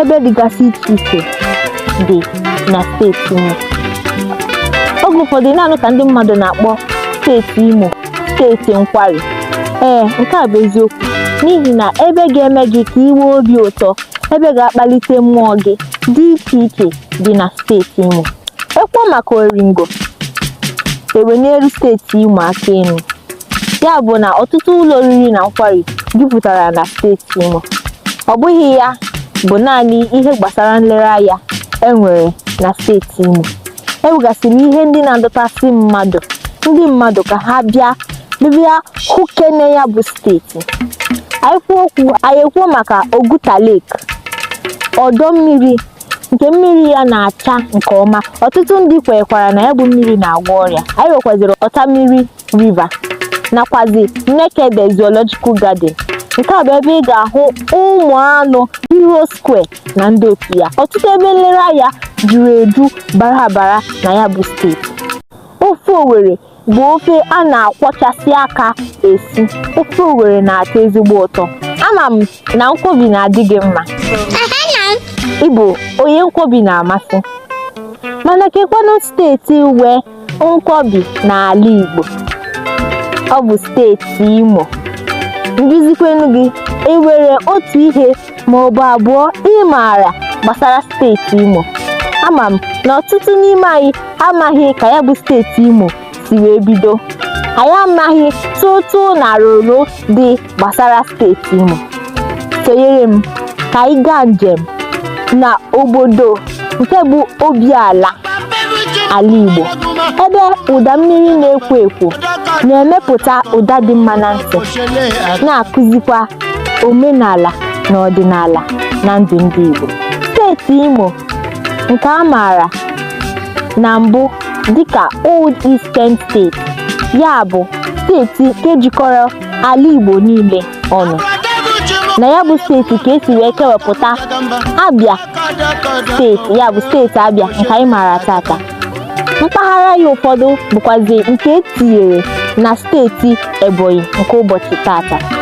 ebe dịgasị iche iche dị na steeti Imo oge ụfọdụ ị na-anụ ka ndị mmadụ na-akpọ steeti Imo steeti nkwari ee nke a bụ eziokwu n'ihi na ebe ga-eme gị ka i nwee obi ụtọ ebe ga-akpalite mmụọ gị dị iche iche dị na steeti Imo ekwuo maka Oringo ewenielu steeti Imo aka enu ya bụ na ọtụtụ ụlọ oriri na nkwari jupụtara na steeti Imo ọ bụghị ya bụ naanị ihe gbasara nlereanya e nwere na steeti Imo e nwegasịrị ihe ndị na-adọtasị mmadụ ndị mmadụ ka ha bịa bịa hụkene ya bụ steeti anyị ekwuo maka Oguta Lake ọdọ mmiri nke mmiri ya na-acha nke ọma ọtụtụ ndị kwekwara na ya bụ mmiri na-agwọ ọrịa anyị nwekwaziri Ọtamiri River nakwazi Nekede Zoological Garden nke a bụ ebe ị ga-ahụ ụmụ anụ Hero Square na ndị otu ya ọtụtụ ebe nlereanya juru eju bara abara na ya bụ steeti ofe Owerri bụ ofe a na-akwọchasị aka esi ofe Owerri na-atọ ezigbo ụtọ ama m na nkwobi na-adị gị mma ị bụ onye nkwobi na-amasị mana kekwanụ steeti nwe Nkwobi n'ala Igbo ọ bụ steeti Imo m jụzikwenụ gị enwere otu ihe ma ọ bụ abụọ ị maara gbasara steeti Imo ama m na ọtụtụ n'ime anyị amaghị ka ya bụ steeti Imo si wee bido anyị amaghị tụtụ na roro dị gbasara steeti Imo sonyere m ka anyị gaa njem na obodo nke bụ obi ala ala Igbo ebe ụda mmiri na-ekwo ekwo na-emepụta ụda dị mma na ntị na-akụzikwa omenala na ọdịnala na ndụ ndị Igbo steeti Imo nke a maara na mbụ dịka Old Eastern State ya bụ steeti nke jikọrọ ala Igbo niile ọnụ na ya bụ steeti ka esi wee kewepụta Abia steeti ya bụ steeti Abia nke anyị maara tata mpaghara ya ụfọdụ bụkwazi nke etinyere na steeti Ebonyi nke ụbọchị tata